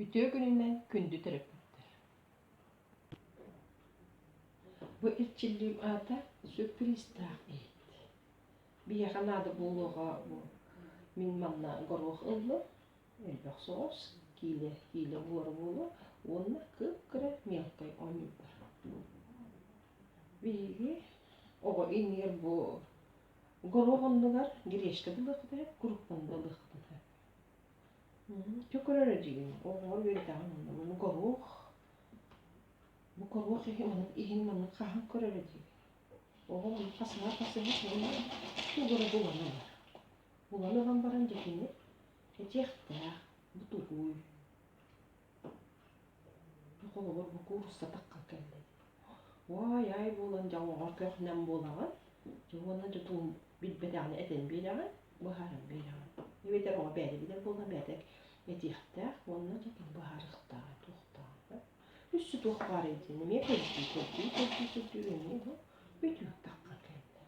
Үтүө күнүнэн күндү төрөппүттэр. Бу эрчиллиим аата сюрпризтаах иһит. Биһиэхэ наада буолуоҕа бу мин манна горох ылла, элбэх соҕус, киилэ киилэ буора буолуо уонна кып-кыра мелкай оонньуурдар. Биһиги оҕо иҥиир бу горуох оннугар гречка булуохпутуна, куруппаны булуохпутуна. Чөкүрөрө диигин оҕолор үөрэтэҕин онно бу горуох бу горуох иһин манан иһин манан хаһан көрөрө диигин. Оҕо манна хасыһар хасыһар сонно тугура булан ылар. Булан ылан баран дьэ кини этиэхтээх бутугуй Холобур, бу куурустатахха кэллим. Уой, ай буолан дьоҥҥор көхнем буолаҕын. Уонна тутуум билбэтэҕинэ этэн биэрэҕин, быһааран биэрэҕин. Эбэтэр оҕо бэйэтэ билэр буолан бэйэтэ этиэхтээх уонна тутуун быһаарыахтааҕа туохтааҕа. Үссе туох баарай диэн эмиэ көрдүү, көрдүү, көрдүү, көрдүү эмиэ бу бүтүүктэххэ кэллим.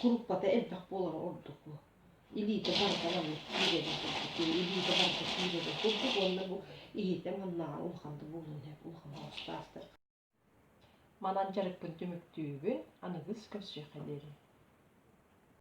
куруппата элбэх буолара ордук бу илиитэ барыта маннык киирэрэ курдук илиитэ барыта киирэрэ курдук уонна бу иһитэ маннааҕар улахан да буолуон сөп улахан оҕустаахтар манан дьарыкпын түмүктүүбүн аныгыс көрсүөххэ диэри